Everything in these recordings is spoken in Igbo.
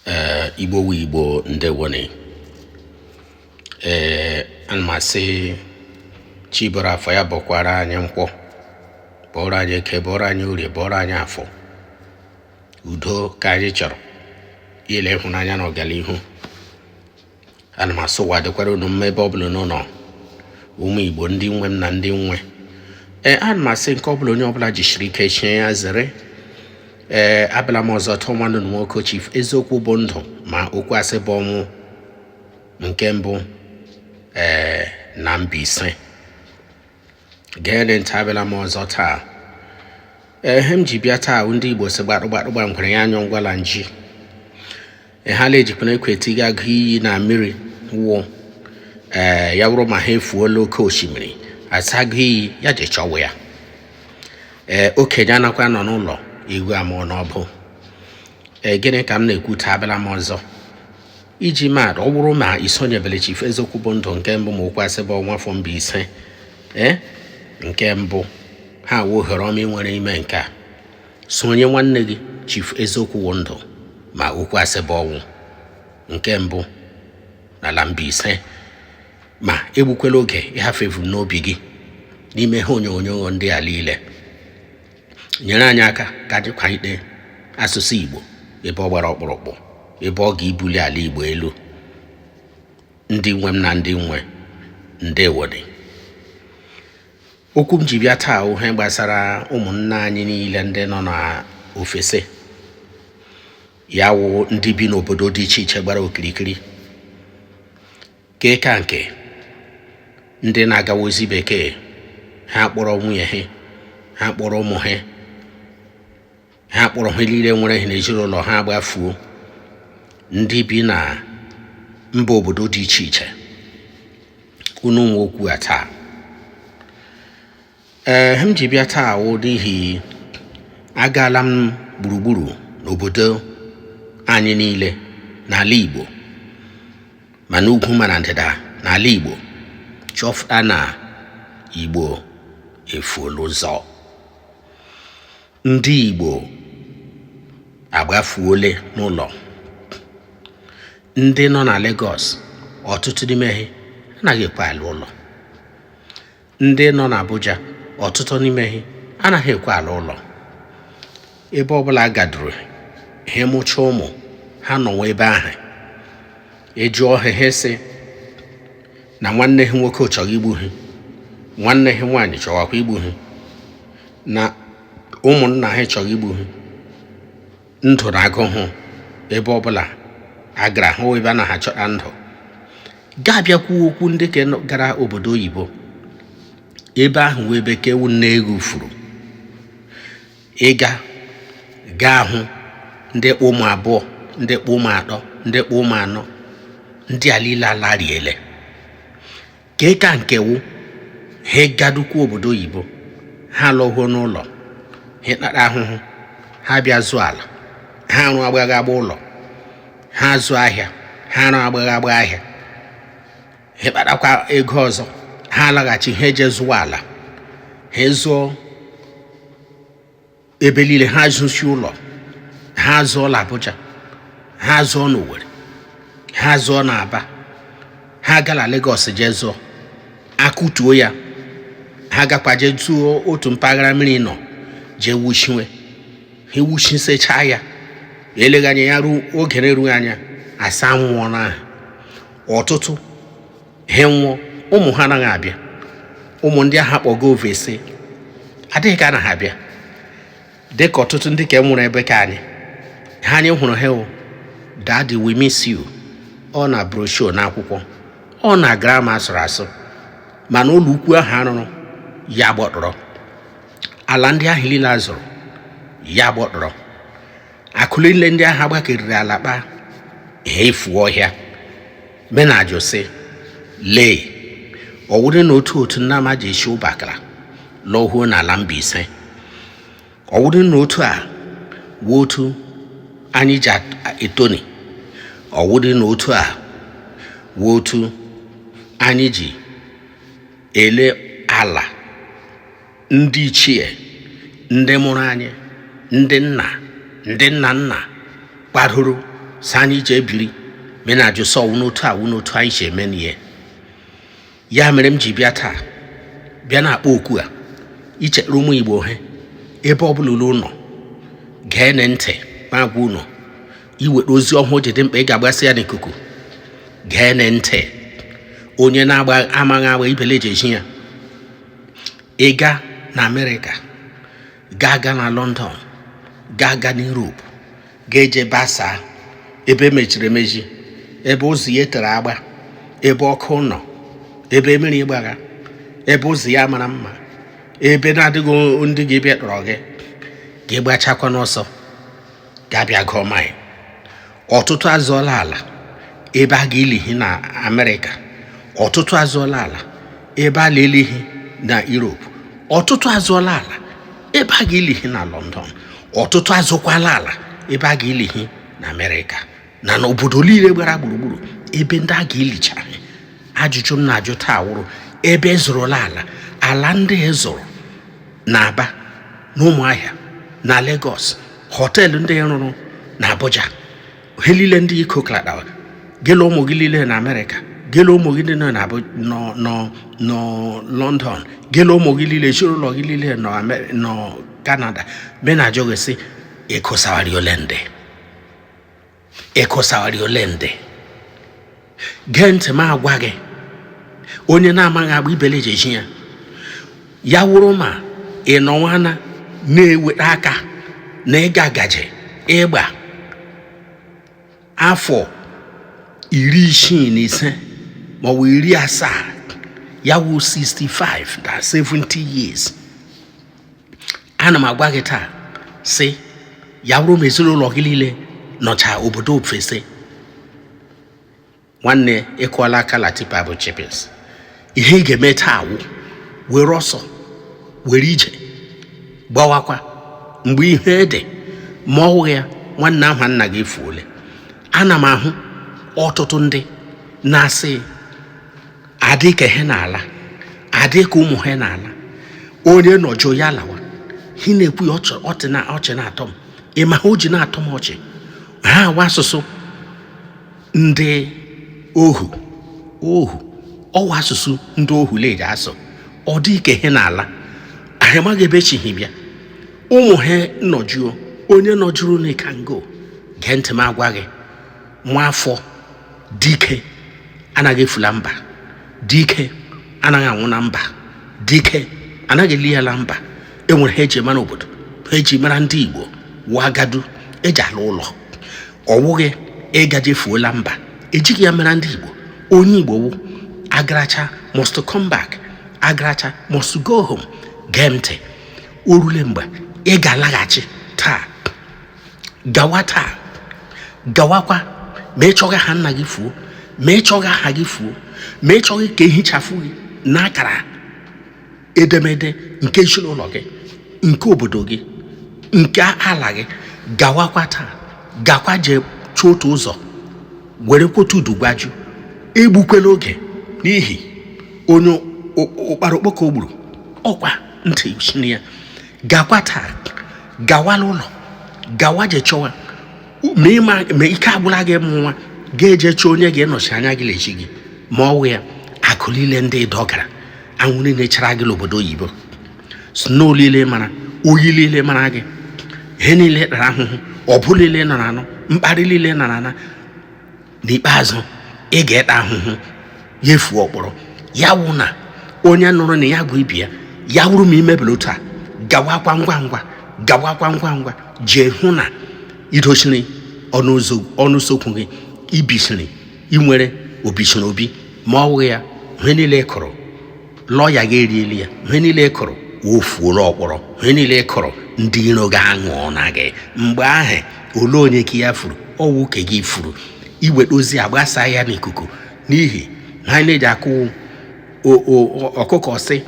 ee igbo wu igbo ndewone ee ana m asị chi bọrọ afọ ya bọkwara anyị nkwọ bọrọ anyị eke bọrọ anyị orie bọrọ anyị afọ udo ka anyị chọrọ ya la ịhụnanya na ọganihu ana m asị ụwa dịkwara unu mma ebe ọ bụla unu nọ ụmụ igbo ndị nwe m na ndị m nwe ee ana m asị nke ọbụla onye ọbụla jisiri ike chie ya zere ee abịala m ọzọ taa ọ nwanne unu nwoke chief eziokwu bụ ndụ ma okwu asị bụ ọnwụ nke mbụ ee na Mbaise geenụ ntị abịala m ọzọ taa ihe m ji bịa taa ndị igbo sị gbadụgbadụgba ngwere ya anyụ ngwala nji ihe a la ejikwana ekwe etiga agụ iyi na mmiri wụ ee ya wụrụ ma ihe efuola oke osimiri asị agụ iyi ya je chọwa ya ee okenye anakwa anọ n'ụlọ eghu amụọ n'ọbụ ee gịnị ka m na-ekwu taa abịala m ọzọ iji mata ọ bụrụ ma isonyebele Chief eziokwu bụ ndụ nke mbụ ma okwu asị bụ ọnwụ of Mbaise ee nke mbụ ihe a wụ ohere ọma i nwere ime nke a sonye nwanne gị Chief eziokwu bụ ndụ ma okwu asị bụ ọnwụ nke mbụ n'ala Mbaise ma egbukwela oge ịhafụ ihe i vu n'obi gị n'ime ihe onyonyo ndị a niile nyere anyị aka ka anyị kwalite asụsụ Igbo ebe ọ gbara ọkpụrụkpụ ebe ọ ga-ebuli ala Igbo elu ndị nwe m na ndị m nwe ndewone okwu m ji bịa taa wụ ihe gbasara ụmụnna anyị niile ndị nọ n'ofesi ya wụ ndị bi n'obodo dị iche iche gbara okirikiri nke ka nke ndị na-agawa ezi bekee ha kpọrọ nwunye ha ha kpọrọ ụmụ ha ha kpọrọ ihe niile nwere ha n'ezinụlọ ha gbafuo ndị bi na mba obodo dị iche iche unu nwe okwu a taa ee ihe m ji bịa taa wụ n'ihi agaala m gburugburu n'obodo anyị niile n'ala Igbo ma n'ugwu ma na ndịda n'ala Igbo chọfụta na Igbo efuola ụzọ ndị Igbo agbafuole n'ụlọ ndị nọ na Lagos ọtụtụ n'ime ha anaghị ekwe ala ụlọ ndị nọ n'Abuja ọtụtụ n'ime ha anaghị ekwe ala ụlọ ebe ọbụla agaduru ha mụcha ụmụ ha nọwa ebe ahụ a jụọ ha ha sị na nwanne ha nwoke chọrọ igbu ha nwanne ha nwaanyị chọwakwa igbu ha na ụmụnna ha chọrọ igbu ha ndụ na agụụ ebe ọbụla a gara hụ ebe a na-achọ na ndụ gaa a bịakwu okwu ndị ka gara obodo oyibo ebe ahụ wụ ebe ka ewu nne egwu furu ị gaa ga-ahụ ndị kpụ ụmụ abụọ ndị kpụ ụmụ atọ ndị kpụ ụmụ anọ ndị a niile ala riele nke ka nke wụ ha gadukwu obodo oyibo ha lọhuo n'ụlọ ha kpata ahụhụ ha bịa zụọ ala ha arụ agbagha agba ụlọ ha zụọ ahịa ha arụ agbagha agba ahịa ha kpatakwa ego ọzọ ha alaghachi ha eje zụwa ala ha zụọ ebe niile ha zụsi ụlọ ha zụọ na Abuja ha zụọ na Owerri ha zụọ na Aba ha gala Lagos jee zụọ akụtuo ya ha gakwa jee zụọ otu mpaghara mmiri nọ jee wuchiwe ha ewuchisechaa ya e lega anya ya ruo oge na-erughị anya a sị anwụọna ha ọtụtụ ha nwụọ ụmụ ha anaghị abịa ụmụ ndị ahụ a kpọga overseas adịghị ka anaghị abịa dị ka ọtụtụ ndị ka nwụrụ ebe ka anyị ha anyị hụrụ ha o daddy we miss you ọ na brochure na akwụkwọ ọ na grama a sụrụ asụ mana ụlọ ukwu ahụ a rụrụ ya gbọtọrọ ala ndị ahụ niile a zụrụ ya gbọtọrọ akụ liile ndị ahụ a gbakeriri ala kpa ha efuo ọhịa m na-ajụ sị lee ọ wụrụ na otu otu nna m ha ji esi Ubakala lọhuo n'ala Mbaise ọ wụrụ na otu a wụ otu anyị ji etoni ọ wụrụ na otu a wụ otu anyị ji ele ala ndị ichie ndị mụrụ anyị ndị nna ndị nna nna kwadoro sị anyị ije biri m na-ajụ sị ọ wụ n'otu a wụ n'otu anyị si emeni ihe ya mere m ji bịa taa bịa na-akpọ oku a ichere ụmụ igbo he ebe ọ bụla unu nọ geene ntị m agwa unu iweta ozi ọhụụ ji dị mkpa ị ga-agbasị ya n'ikuku geene ntị onye na-agba amaghị agba ibele ji eji ya ị ga na america gaa a ga na london gaa a ga na europe gaa eje basaa ebe e mechiri emechi ebe ụzọ ya tere agba ebe ọkụ nọ ebe mmiri gbaga ebe ụzọ ya mara mma ebe na-adịghị ndị ga-abịa tọrọ gị ga-agbachakwa n'ọsọ ga-abịa gụọ maịn ọtụtụ azụọla ala ebe a ga-eli hi na amerịka ọtụtụ azụọla ala ebe a na-eli hi na europe ọtụtụ azụọla ala ebe a ga-eli hi na london ọtụtụ azụkwala ala ebe a ga-eli hi na amerịka na n'obodo niile gbara gburugburu ebe ndị a ga-elicha hi ajụjụ m na-ajụ taa wụrụ ebe ị zụrụla ala ala ndị ị zụrụ na aba na ụmụahịa na Lagos họteelụ ndị ị rụrụ na Abuja ha niile ndị iko kladawa gị la ụmụ gị niile na Amerịka gị la ụmụ gị niile na nọ London gị la ụmụ gị niile ezinụlọ gị niile nọ Canada me na-ajụ gị sị ị kọsawari ole ndị ị kọsawari ole ndị gee ntị m agwa gị onye na-amaghị agba ibele e jee zi ya ya wụrụ ma ị nọwana na-eweta aka na ị ga gaje ịgba afọ iri isii na ise maọbụ iri asaa ya wụ 65 na 70 years ana m agwa gị taa sị ya wụrụ ma ezinụlọ gị niile nọcha obodo ofesi nwanne ị kụọla aka la tipper bu chippings ihe ị ga-eme taa wụ were ọsọ were ije gbawakwa mgbe ihe ede ma ọ wụghị ya nwanne aha nna gị efuole ana m ahụ ọtụtụ ndị na-asị adị ka he na-ala adị ka ụmụ ha na-ala onye nọjuo ya lawa hi na-ekwu ya ọchị na-atọ m ị ma ihe o ji na-atọ m ọchị ihe a wụ asụsụ ndị ohu ohu ọ wụ asụsụ ndị ohu la-eji asụ ọ dị ka he na-ala hi amaghị ebe e chị hi bịa ụmụ ha nọjuo onye nọjuru n'ịkango gee ntị m agwa gị nwa afọ dike anaghị efu la mba dike anaghị anwụ na mba dike anaghị eli ya na mba e nwere ihe e ji mara obodo ihe e ji mara ndị igbo wụ agadi e ji ala ụlọ ọ wụghị ị gaje fuo la mba e jighị ya mara ndị igbo onye igbo wụ agaracha must come back agaracha must go home gee ntị o rule mgbe ị ga-alaghachi taa gawa taa gawakwa ma ị chọghị aha nna gị fuo ma ị chọghị aha gị fuo ma ị chọghị ka e hichafụ gị n'akara edemede nke ezinụlọ gị nke obodo gị nke ala gị gawakwa taa gakwa jee chọọ otu ụzọ were kwota udu gwaju egbukwela oge n'ihi onye ụkpara okpoko gburu ọ kwa ntị chiri ya gakwa taa gawala ụlọ gawa je chọwa ma ike agwụla gị ịmụ nwa ga-eje chọọ onye ga-enọchi anya gị l'ezi gị ma ọ wụghị ya akụ niile ndị ị dọgara anwụ niile chara gị n'obodo oyibo snow niile mara oyi niile mara gị ihe niile ị tara ahụhụ ọbụ niile ị nọ na-anụ mkparị niile ị nọ na-ana n'ikpeazụ ị ga-eta ahụhụ ya efuo ọkpọrọ ya wụ na onye nụrụ na ya gwa ibe ya ya wụrụ ma i mebela otu a gawakwa ngwa ngwa gawakwa ngwa ngwa jee hụ na i dochiri ọnụ ụzọ ọnụ usokwu gị i bisiri i nwere obisiri obi ma ọ wụghị ya ihe niile ị kụrụ lọya gị eriela ya ihe niile ị kụrụ efuola ọkpọrọ ihe niile ị kụrụ ndị iro gị aṅụọ na gị mgbe ahụ olee onye ka ya furu ọ wụ ka gị furu i nweta ozi a gbasaa ya n'ikuku n'ihi na anyị na-eji akụ o- o- o- ọkụkọ sị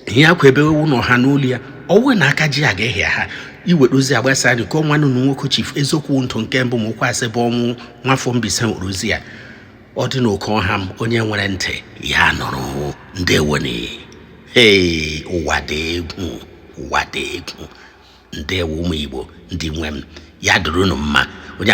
ihe akwa ebe wụ na ọha nụ olu ya ọ wụghị na aka ji ya ga ịha ya i nweta ozi a gbasaa ya nke a wụ nwanne unu nwoke chief eziokwu ndụ nke mbụ ma okwu asị bụ ọnwụ nwafọ mbaise nwere ozi ya ọ dị n'oke ọha m onye nwere ntị ya nụrụ ndewonụ ee ụwa dị egwu ụwa dị egwu ndewo ụmụ igbo ndị nwe m ya dịrị unu mma onye